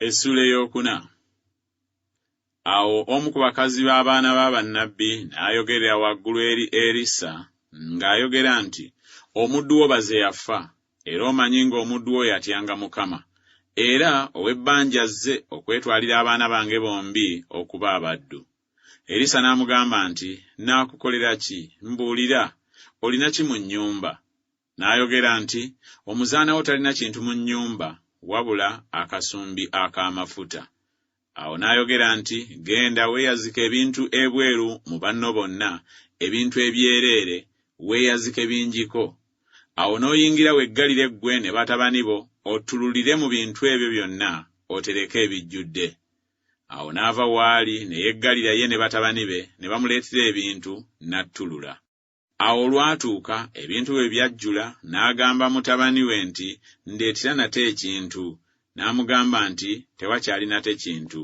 Essuula ey'okuna. Awo omu ku bakazi b'abaana ba bannabbi n'ayogerera waggulu eri Erisa ng'ayogera nti, Omuddu wo baze yafa, era omanyi ng'omuddu wo yatyanga Mukama, era ow'ebbanja azze okwetwalira abaana bange bombi okuba abaddu. Erisa n'amugamba nti, Nnaakukolera ki? Mbuulira, olina ki mu nnyumba? N'ayogera nti, Omuzaana wo talina kintu mu nnyumba wabula akasumbi ak'amafuta. Awo n'ayogera nti, Genda weeyazike ebintu ebweru mu banno bonna, ebintu ebyereere, weeyazike bingiko. Awo n'oyingira weggalire ggwe ne batabani bo, ottululire mu bintu ebyo byonna otereke ebijjudde. Awo n'ava w'ali ne yeggalira ye ne batabani be, ne bamuleetera ebintu, n'attulula. Awo olwatuuka ebintu bwe byajjula, n'agamba mutabani we nti, Ndeetera nate ekintu. N'amugamba nti, Tewakyali nate kintu.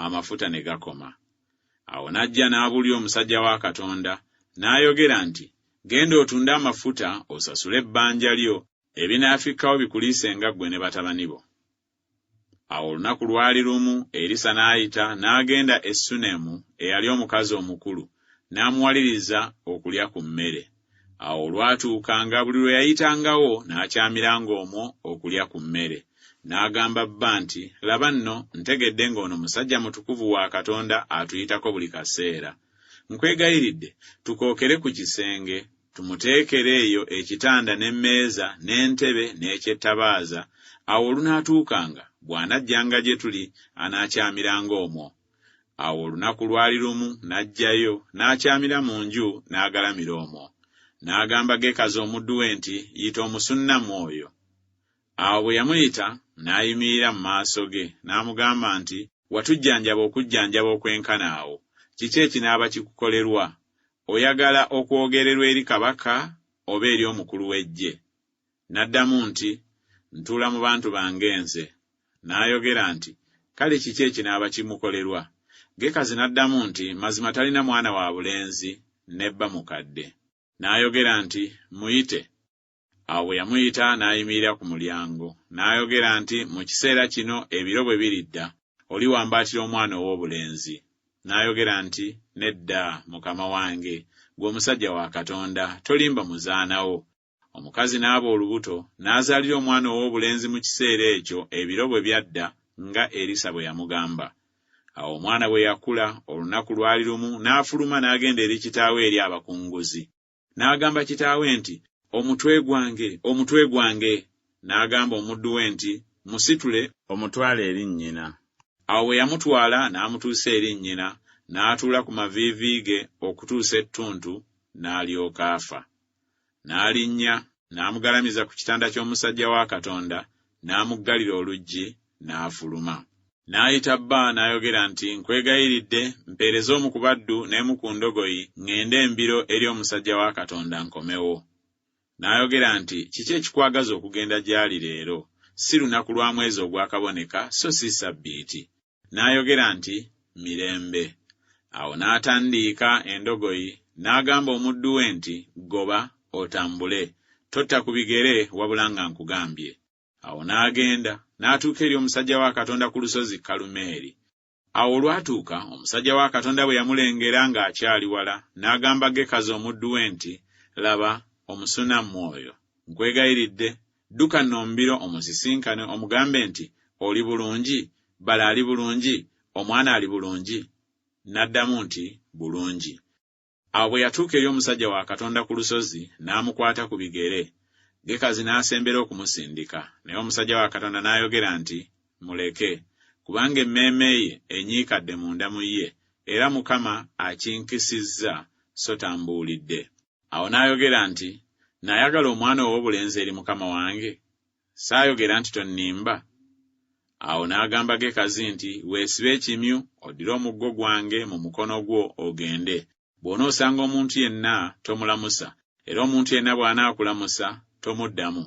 Amafuta ne gakoma. Awo n'ajja n'abulya omusajja wa Katonda, n'ayogera nti, Genda otunde amafuta osasule ebbanja lyo, ebinaafikkawo bikuliise nga ggwe ne batabani bo. Awo olunaku lwali lumu Erisa n'ayita n'agenda e Sunemu eyali omukazi omukulu, n'amuwaliriza okulya ku mmere. Awo olwatuukanga buli lwe yayitangawo n'akyamiranga omwo okulya ku mmere. N'agamba bba nti, Laba nno, ntegedde ng'ono musajja mutukuvu wa Katonda atuyitako buli kaseera. Nkwegayiridde, tukookere ku kisenge, Tumuteekere eyo ekitanda n'emmeeza n'entebe n'ekyettabaaza, awo olunaatuukanga, bw'anajjanga gye tuli, anaakyamiranga omwo. Awo olunaku lwali lumu n'ajjayo, n'akyamira mu nju, n'agalamira omwo. N'agamba Gekazi omuddu we nti, Yita Omusunnamu oyo. Awo bwe yamuyita, n'ayimirira mu maaso ge, n'amugamba nti, Watujjanjaba okujjanjaba okwenkana awo, kiki ekinaaba kikukolerwa? Oyagala okwogererwa eri kabaka oba eri omukulu w'eggye? N'addamu nti, Ntuula mu bantu bange nze. N'ayogera nti, Kale kiki ekinaaba kimukolerwa? Gekazi n'addamu nti, Mazima talina mwana wa bulenzi, ne bba mukadde. N'ayogera nti, Muyite. Awo bwe yamuyita n'ayimirira ku mulyango, n'ayogera nti, Mu kiseera kino ebiro bwe biridda, oliwambaatira omwana ow'obulenzi. N'ayogera nti, Nedda, mukama wange, ggwe omusajja wa Katonda, tolimba muzaana wo. Omukazi n'aba olubuto, n'azaalira omwana ow'obulenzi mu kiseera ekyo ebiro bwe byadda nga Erisa bwe yamugamba. Awo omwana bwe yakula, olunaku lwali lumu n'afuluma n'agenda eri kitaawe eri abakunguzi. N'agamba kitaawe nti, Omutwe gwange, omutwe gwange! N'agamba omuddu we nti, Musitule, omutwale eri nnyina. Awo bwe yamutwala n'amutuusa eri nnyina, n'atuula ku maviivi ge okutuusa ettuntu, n'alyoka afa. N'alinnya, n'amugalamiza ku kitanda ky'omusajja wa Katonda, n'amuggalira oluggi, n'afuluma. N'ayita bba, n'ayogera nti, Nkwegayiridde, mpeereza omu ku baddu n'emu ku ndogoyi, ŋŋende embiro eri omusajja wa Katonda nkomewo. N'ayogera nti, Kiki ekikwagaza okugenda gy'ali leero? Si lunaku lwa mwezi ogwakaboneka, so si Ssabbiiti. n'ayogera nti, Mirembe. Awo n'atandiika endogoyi, n'agamba omuddu we nti, Goba, otambule, totta ku bigere wabula nga nkugambye. Awo n'agenda, n'atuuka eri omusajja wa Katonda ku lusozi Kalumeeri. Awo olwatuuka omusajja wa Katonda bwe yamulengera ng'akyali wala, n'agamba Gekazi omuddu we nti, Laba, Omusunammu oyo! Nkwegayiridde, Dduka nno mbiro omusisinkane omugambe nti, Oli bulungi? Bbala ali bulungi? Omwana ali bulungi? N'addamu nti, Bulungi. Awo bwe yatuuka eri omusajja wa Katonda ku lusozi, n'amukwata ku bigere. Gekazi n'asembera okumusindika, naye omusajja wa Katonda n'ayogera nti, Muleke, kubanga emmeeme ye enyiikadde munda mu ye, era Mukama akinkisizza, sso tambuulidde. Awo n'ayogera nti, Nayagala omwana ow'obulenzi eri mukama wange? Saayogera nti, Tonnimba? Awo n'agamba Gekazi nti, Weesibe ekimyu, oddire omuggo gwange mu mukono gwo, ogende. Bw'onoosanga omuntu yenna, tomulamusa, era omuntu yenna bw'anaakulamusa, tomuddamu.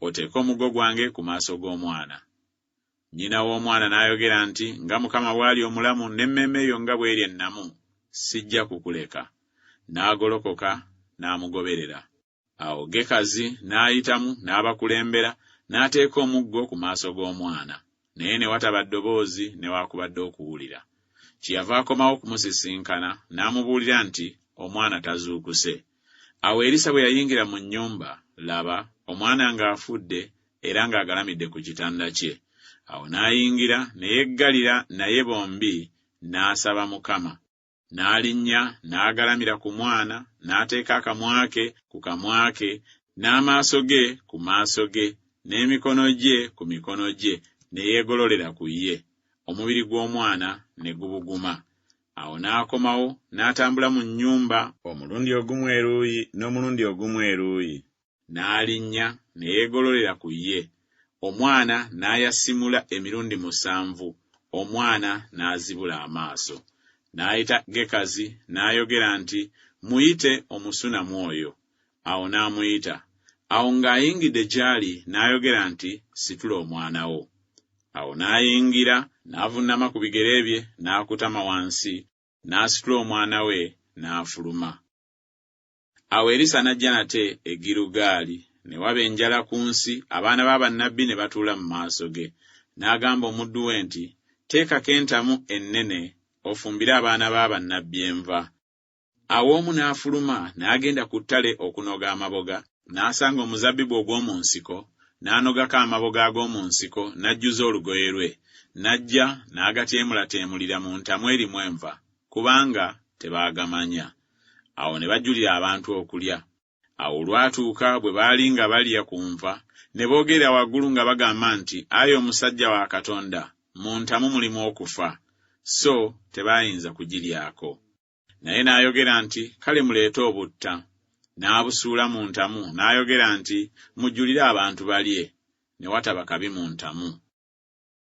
oteeke omuggo gwange ku maaso g'omwana. Nnyina w'omwana n'ayogera nti, Nga Mukama bw'ali omulamu n'emmeeme yo nga bw'eri ennamu, sijja kukuleka. N'agolokoka n'amugoberera. Awo Gekazi n'ayitamu n'abakulembera, n'ateeka omuggo ku maaso g'omwana. naye ne wataba ddoboozi newaakubadde okuwulira. Kye yava akomawo okumusisinkana n'amubuulira nti, Omwana tazuukuse. Awo Erisa bwe yayingira mu nnyumba, laba, omwana ng'afudde era ng'agalamidde ku kitanda kye. Awo n'ayingira ne yeggalira naye bombi n'asaba Mukama. N'alinnya n'agalamira ku mwana, n'ateeka akamwa ke ku kamwa ke, n'amaaso ge ku maaso ge, n'emikono gye ku mikono gye, ne yeegololera ku ye. Omubiri gw'omwana ne gubuguma. Awo n'akomawo, n'atambula mu nnyumba, omulundi ogumu eruuyi n'omulundi ogumu eruuyi, N'alinnya ne yeegololera ku ye, omwana n'ayasimula emirundi musanvu, omwana n'azibula amaaso. N'ayita Gekazi n'ayogera nti, Muyite Omusunamu oyo. Awo n'amuyita. Awo ng'ayingidde gy'ali n'ayogera nti, Situla omwana wo. Awo n'ayingira, n'avunnama ku bigere bye, n'akutama wansi, n'asitula omwana we, n'afuluma. Awo Erisa n'ajja nate e Girugaali, ne waba enjala ku nsi, abaana ba bannabbi ne batuula mu maaso ge. N'agamba omuddu we nti, Teekako entamu ennene, ofumbire abaana ba bannabbi enva. Awo omu n'afuluma n'agenda ku ttale okunoga amaboga, n'asanga omuzabbibu ogw'omu nsiko, n'anogako amaboga ag'omu nsiko, n'ajjuza olugoye lwe, n'ajja, n'agateemulateemulira mu ntamu erimu enva, kubanga tebaagamanya. Awo ne bajulira abantu okulya. Awo olwatuuka bwe baali nga balya ku nva, ne boogerera waggulu nga bagamba nti, Ayi omusajja wa Katonda, mu ntamu mulimu okufa. So tebaayinza kugiryako. Naye n'ayogera nti, Kale muleete obutta. N'abusuula mu ntamu, n'ayogera nti, Mujulire abantu balye. Ne wataba kabi mu ntamu.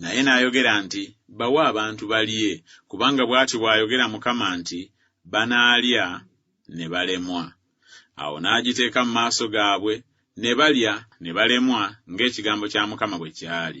Naye n'ayogera nti, Bawe abantu balye, kubanga bw'ati bw'ayogera Mukama nti, Banaalya ne balemwa. Awo n'agiteeka mu maaso gaabwe, ne balya ne balemwa ng'ekigambo kya Mukama bwe kyali.